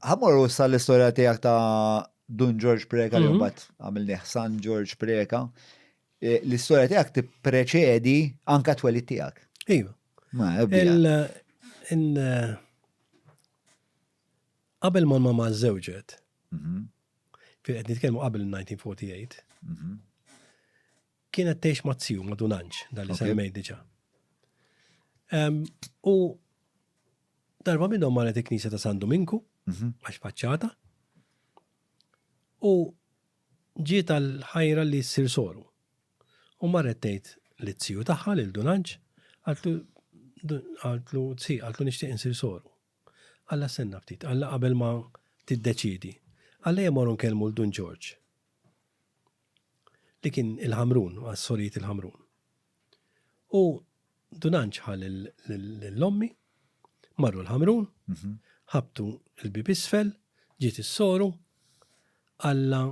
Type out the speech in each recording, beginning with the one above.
Ħammorru issa l-istorja tiegħek ta' Dun Ġorġ Preka li Mhm. mbagħad għamilnieh San Ġorġ Preka. Eh, L-istorja tiegħek tippreċedi anka twelid tiegħek. Iva. Ma ebbi. Il, il, qabel ma mama żewġet, Mhm, fil qed nitkellmu qabel 1948, mhm, kienet tgħix ma' ziju ma' Dunanġ, dan li semmej diġà. U darba minnhom marret il-Knisja ta' San Dominku, mhm. għax faċċata, u ġiet għal-ħajra li ssir soru. U marret tgħid li t-ziju tagħha lil Dunanġ, għaltlu għaltlu tsi, għaltlu nixtieq insir soru. Alla senna ftit, alla qabel ma tiddeċidi. Alla jemorun kelmu l-Dun Ġorġ. li kien il-Ħamrun, għas-Sorijiet il-Ħamrun. U Dunanċ ħa l-ommi, marru l-Ħamrun, mhm. ħabtu l-bib isfel, ġiet is-soru, Alla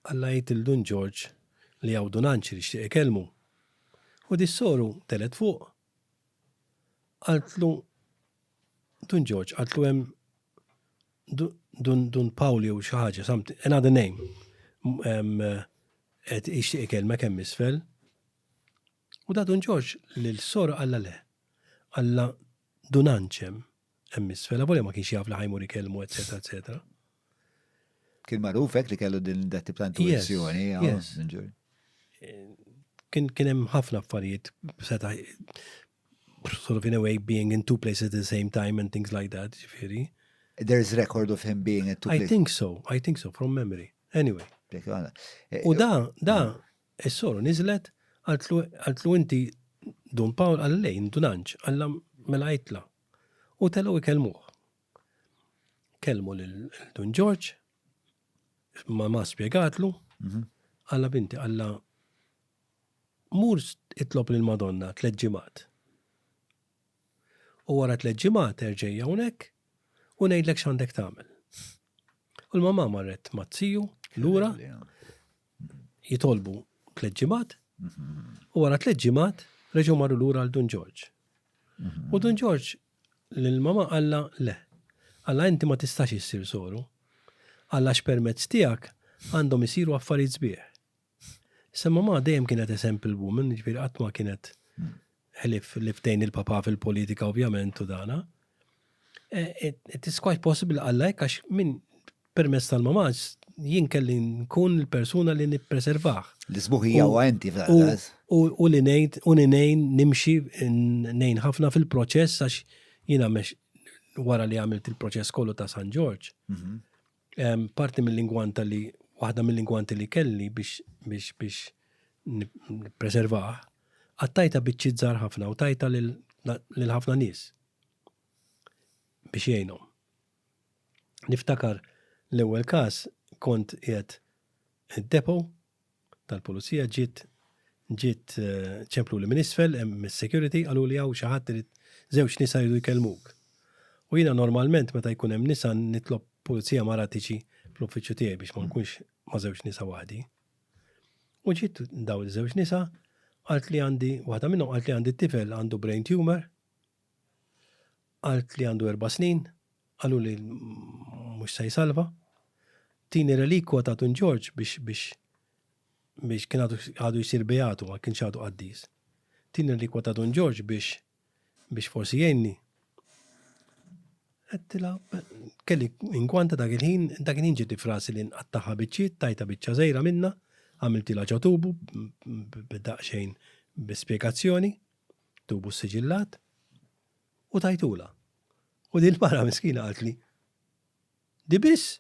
Alla jgħid il-Dun Ġorġ li għaw Dunanċ li xtieq ikellmu. U dis-soru telet fuq Qaltlu Dun Ġorġ, qaltlu hemm Dun Dun Pawl jew xi ħaġa, something, another name, qed jixtieq ikellmek hemm isfel. U da Dun Ġorġ lil soru qallha le. Qallha Dun Anċem. Hemm isfel, avolja ma kienx jaf li ħajmur ikellmu, eċetera, eċetera. Kien magħruf hekk li kellu din dat ta' intuizzjoni, Kien kien hemm ħafna affarijiet seta' sort of in a way being in two places at the same time and things like that, ġifieri. There is record of him being at two places. I think so, I think so, from memory. Anyway. U da, da, Is-soru niżlet, qaltlu inti Dun Pawl, qal le jien Dunanġ, qallha mela għidtla. U telgħu jkellmuh. Kellmu lil Dun Ġorġ, mamà spjegatlu, qallha binti qallha mur itlob lil Madonna tliet ġimgħat. U wara tliet ġimgħat erġej hawnhekk u ngħidlek x'għandek tagħmel. U l-mamà marret mat-tiju lura jitolbu tliet ġimgħat u wara tliet ġimgħat reġgħu marru lura għal Dun Ġorġ. U Dun Ġorġ lil mama qalla le. Alla inti ma tistax issir soru. Alla x'permezz tiegħek għandhom isiru affarijiet sbieħ. Issa mama dejjem kienet a simple woman, ġifieri qatt ma kienet ħlief li ftejn il-papa fil-politika ovvjament u dana. Eh, it is quite possible għalla hekk għax minn permess tal-mamaġ jien kelli nkun il-persuna li nippreservaħ. L-isbuħija u għenti fl-għaz. U li nejn, u li nejn nimxi nejn ħafna fil-proċess għax jina mex wara li għamilt il-proċess kollu ta' San Ġorġ. Mhm. Parti mill-ingwanta li, waħda mill-ingwanti li kelli biex, biex, biex nippreservah, qattajta biċċiet żgħar ħafna u tajta lil, lil ħafna nies biex jgħinhom. Niftakar l-ewwel każ kont qiegħed id-depot tal-pulizija ġiet ġiet ċempluli minn isfel hemm is-security qalu li hawn xi ħadd irid żewġ nisa jridu jkellmuk. U jiena normalment meta jkun hemm nisa nitlob pulizija mara tiġi fl-uffiċċju tiegħi biex ma nkunx ma' żewġ nisa waħdi. U ġiet daw iż-żewġ nisa qalt li għandi waħda minnhom qalt li għandi tifel għandu brain tumor Għalt li għandu erba' snin, qaluli mhux se jsalva. Tini relikwa ta' Dun Ġorġ biex biex biex kien għadu jsir beatu ma kienx għadu qaddis. Tini relikwa ta' Dun Ġorġ biex biex forsi jgħinni. Għedtila, kelli inkwanta dak il-ħin, dak il-ħin ġiet frasi li nqattaħa biċċiet, tajta biċċa żejra minna, għamiltila ġo tubu b'daqsxejn bi spjegazzjoni. tubu ssiġillat u tajtulha. U din il-mara miskina qaltli, Di biss?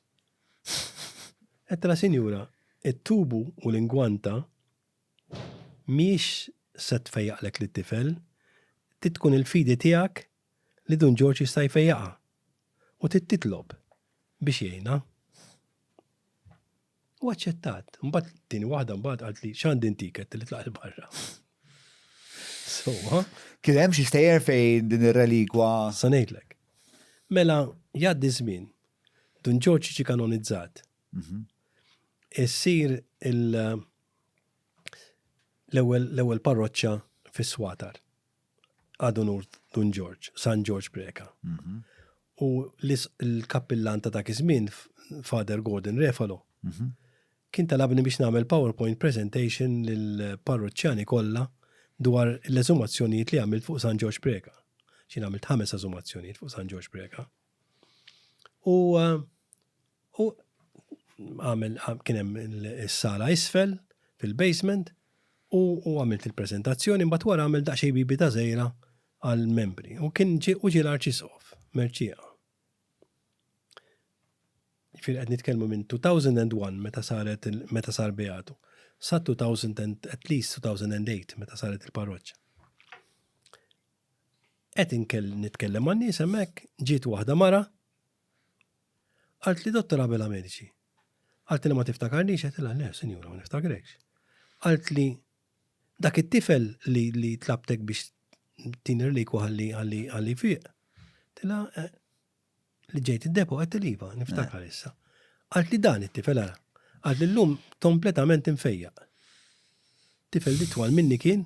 Għedtilha, Sinjura, it-tubu u l-ingwanta mhijiex se tfejjaqlek lit-tifel, trid tkun il-fidi tiegħek li Dun Ġorġ jista' jfejjaqha u trid titlob biex jgħinha. U aċċettat. Mbagħad tieni waħda mbagħad qalt li x'għandi ntik qed tilitlaq il barra. So, Kien hemm xi stejjer fejn din ir-relikwa. Sa ngħidlek. Mela jgħaddi żmien. Dun Ġorġ ġi kanonizzat. Mhm. Issir il- l-ewwel parroċċa fis-Swatar. Ad Onur Dun Ġorġ, San Ġorġ Preca. Mhm. U l-kappillan ta' dak iż-żmien, Father Gordon Refalo, mhm. kien talabni biex nagħmel PowerPoint presentation lill-parroċċjani kollha dwar l-eżumazzjonijiet li għamilt fuq San Ġorġ Preca. Xi għamilt ħames eżumazzjonijiet fuq San Ġorġ Preca. U għamil kienem il-sala isfel fil-basement u għamilt il-prezentazzjoni mbagħad wara għamil daqsxejn bibi ta' żejra għall-membri. U kien ġi u ġi l-arċisqof Merċieqa. Fil qed nitkellmu minn 2001 meta saret meta sar beatu sa 2000 at least 2008 meta saret il-parroċċa. qed inkell nitkellem man-nies hemmhekk, ġiet waħda mara, qaltli Dottor Abela Medici. Qaltilha ma tiftakarniex, għedtilha le, sinjura, ma niftakrekx. Qaltli dak it-tifel li li tlabtek biex tin irliku ħalli ħalli ħalli fiq. Tila eh, li ġejt id-depo qed tiliva, niftakar issa. Qaltli dan it-tifel ara. Qaltli llum kompletament infejjaq. Tifel li twal minni kien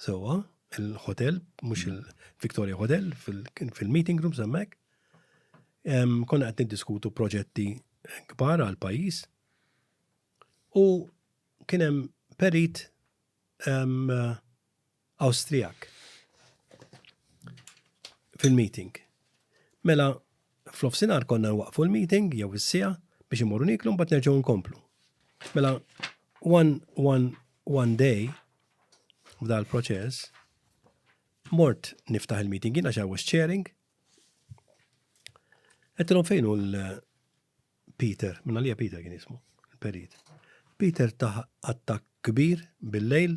Sewwa, il-hotel, mhux il-Victoria Hotel, fil-meeting room semmek. Konna qed niddiskutu proġetti kbar għal pajjiż. U kien hemm perit Awstrijak fil-meeting. Mela, F'nofsinhar konna nwaqqfu l-meeting jew is-siegħa biex imorru niklu mbagħad nerġgħu nkomplu. Mela one one one day f'dal proċess mort niftaħ il-meeting jiena I was chairing. Għettilom fejn u l-Peter, minna li Peter kien jismu, il-perit. Peter taħ attak kbir bil-lejl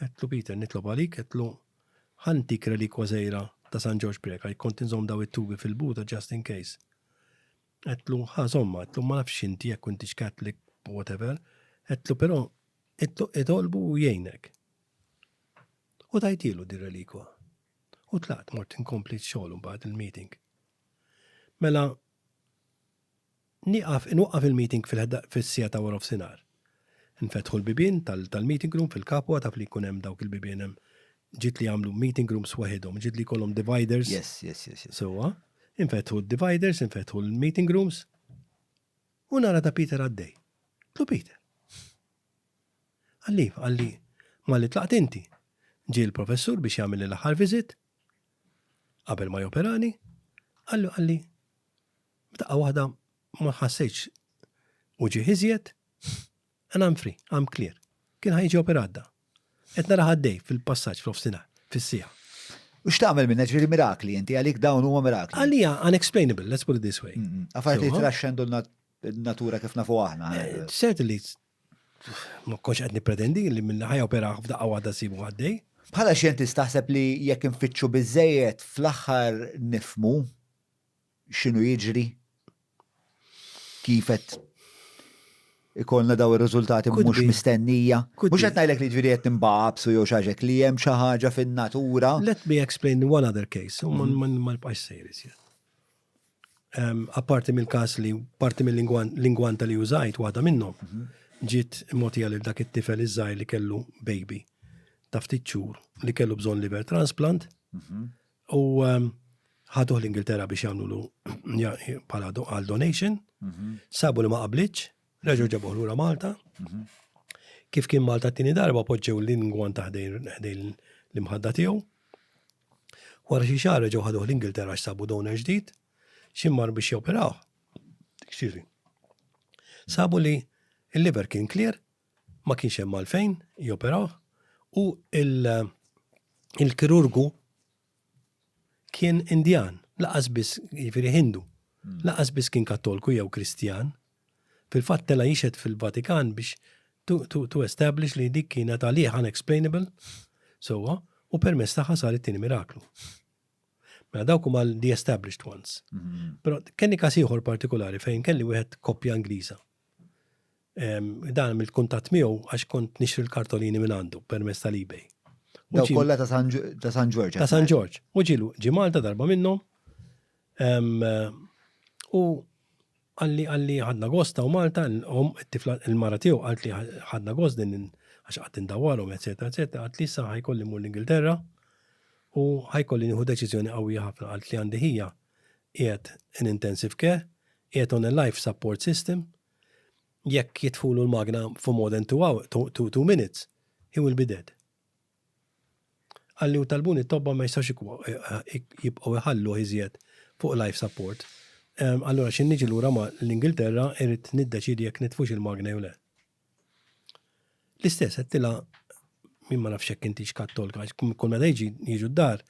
Għedtlu, Peter, nitlob għalik, għedtlu, ħa ntik relikwa żgħira ta' San Ġorġ Preca, jekk kont inżomm daw it-tubi fil-buta just in case. Għedtlu, ħa żommha, għedtlu, ma nafx inti jekk intix Catholic, whatever, għedtlu, però, għedtlu, itolbu u jgħinek. U tajtilu din relikwa. U tlaqt mort inkompli x-xogħol mbagħad il-meeting. Mela, Nieqaf, inwaqqaf il-meeting fis-siegħa ta' warofsinhar. Infetħu l-bibien tal-meeting room fil-Capua, taf li jkun hemm dawk il-bibien hemm ġid li jagħmlu meeting rooms waħidhom, ġid li jkollhom dividers. Yes, yes, yes, yes. Sewwa. Infetħu d-dividers, infetħu l-meeting rooms, u nara ta' Peter għaddej. Qtlu Peter. Qalli, qalli, malli tlaqt inti. Ġie l-professur biex jagħmel l-aħħar visit, qabel ma joperani, qallu qalli, F'daqqa waħda ma ħassejtx uġigħ iżjed, and I'm free, I'm clear. Kien ħa jiġi operat da. Qed narah għaddej fil-passaġġ f'nofsinhar, fis-siegħa. U x'tagħmel minnha, ġifieri mirakli inti, għalik dawn huma mirakli. Għalija unexplainable, let's put it this way. Affarijiet li jitraxxendu n-natura kif nafu aħna. Eh, certainly, ma konx qed nippretendi li minn ħajja operaħ f'daqqa waħda sibu għaddej. Bħala xjentist taħseb li jekk infittxu biżejjed fl-aħħar nifmu x'inhu jiġri, kif qed ikollna dawn ir-riżultati mhux mistennija. Mhux qed ngħidlek li jiġifieri qed ninbagħabsu jew xi ħaġa hekk, li hemm xi ħaġa fin-natura. Let me explain one other case, u ma nibqax sejjer iżjed. Apparti mill-każ li parti mill-lingwanta li użajt waħda minnhom, ġiet mogħtija lil dak it-tifel iż-żgħir li kellu baby ta' ftit xhur li kellu bżonn liver transplant, U ehm, ħaduh l-Ingilterra biex jagħmlu bħala għal donation, mhm. sabu li ma qablitx, reġgħu ġabuh lura Malta. Mhm. Kif kien Malta t-tieni darba poġġew l-ingwan taħdejn l-imħadda tiegħu. Wara xi xahar reġgħu ħaduh l-Ingilterra x'sabu donor ġdid, ximmar biex joperaw. Xiri. Sabu li il-liver kien clear, ma kienx hemm għalfejn joperaw u il-kirurgu kien Indjan, laqas biss jiġifieri Hindu, hmm. laqas biss kien Kattolku jew Kristjan. Fil-fatt tela jixed fil-Vatikan biex to establish li dik kienet għalih unexplainable, sowa, u permess taħħa sar it-tieni miraklu. Mela dawk huma the established ones. Hmm. Però kenni każ ieħor partikolari fejn kelli wieħed koppja Ingliża Dan mill kuntatt miegħu għax kont nixtri l-kartolini minn għandu permezz tal-eBay. Daw kollha ta' San Ġorġ. Ta' San Ġorġ. U ġilu ġi Malta darba minnhom. U għalli għalli ħadna gost ta' Malta, il-mara tiegħu għalt li ħadna gost din għax qatt indawwarhom, eċetera, eċetera, għalt li sa ħajkolli mur l-Ingilterra u ħajkolli nieħu deċiżjoni qawwija ħafna għalt li għandi ħija qiegħed in intensive care, qiegħed on a life support system, jekk jitfulu l-magna for more than two minutes, he will be dead. Qalli u talbuni t-tobba ma jistgħux jibqgħu jħalluh iżjed fuq life support. Allura xi niġi lura ma' l-Ingilterra irrid niddeċiedi jekk nitfux il-magna jew le. L-istess għettila min ma nafx hekk intix kattolka, kull meta jiġi jiġu d-dar,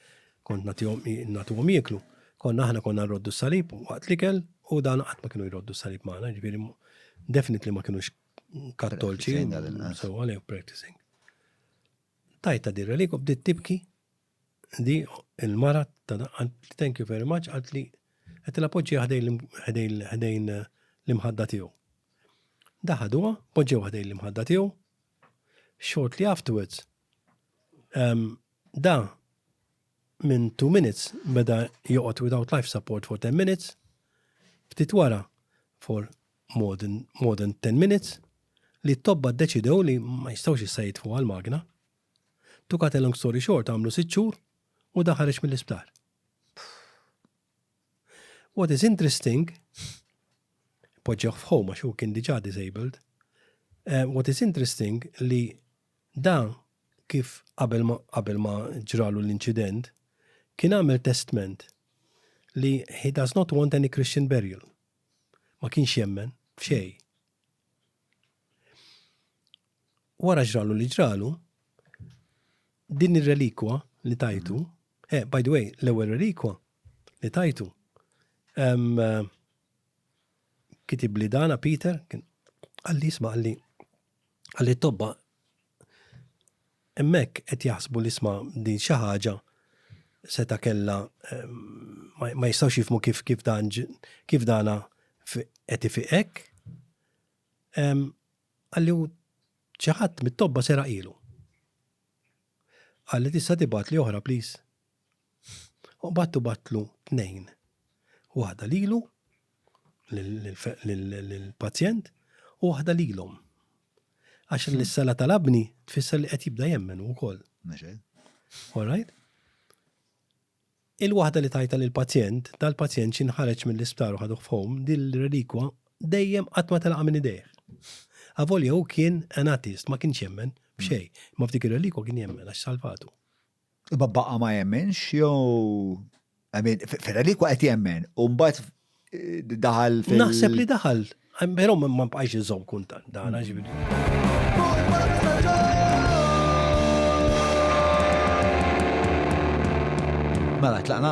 kont nagħtuhom jieklu, konna aħna konna nroddu s-salib waqt l-ikel u dan qatt ma kienu jroddu s-salib magħna, ġifieri definitely ma kienux kattolċi. So għalhekk practicing. Tajta dirra li bdiet tibki Di il-mara ta' daqqant thank you very much għalt li qed il-appoġġija ħdejn l-imħadda tiegħu. Daħaduha, poġġew ħdejn l-imħadda tiegħu. Shortly afterwards, um, da minn 2 minutes beda joqgħod without life support for 10 minutes, ftit wara for more than, more than 10 minutes, li t-tobba deċidew li ma jistawx jissajt fuq għal-magna, To cut a long story short għamlu sitt xhur u dan ħareġ mill-isptar. What is interesting, poġġewh f'ħom għax hu kien diġà disabled, eh, what is interesting li dan kif qabel ma qabel ma ġralu l-inċident kien għamel testment li he does not want any Christian burial. Ma kienx jemmen f'xej. wara ġralu li ġralu, din ir-relikwa li tajtu, eh, by the way, l-ewwel relikwa li tajtu, eh, kitib li dana Peter, għalli jisma għalli għalli tobba emmek qed jaħsbu li sma din xi ħaġa seta kella eh, ma jistgħux jifmu kif kif dan kif dana qed ifiqek. Qalli u xi ħadd mit-tobba seraq ilu. Qalli tista' tibgħatli oħra please? U qbadtu bgħattlu tnejn. Waħda lilu, lill-pazjent, u waħda lilhom. Għax li s-sala talabni tfisser li qed jibda jemmen hu wkoll. All right? Il-waħda li tajtha lill-pazjent, dal-pazjent xi nħareġ mill-isptar u ħaduh f'home, dil-relikwa dejjem qatt ma telqa' minn idejh. Avolja hu kien an atheist, ma kienx jemmen f'xejn, imma f'dik ir-relikwa kien jemmen għax salvatu. Imma baqa' ma jemminx jew, I mean, fir-relikwa qed jemmen u mbagħad daħal fil- Naħseb li daħal, pero ma bqajx iżom kuntan, daħal Mela, tlaqna?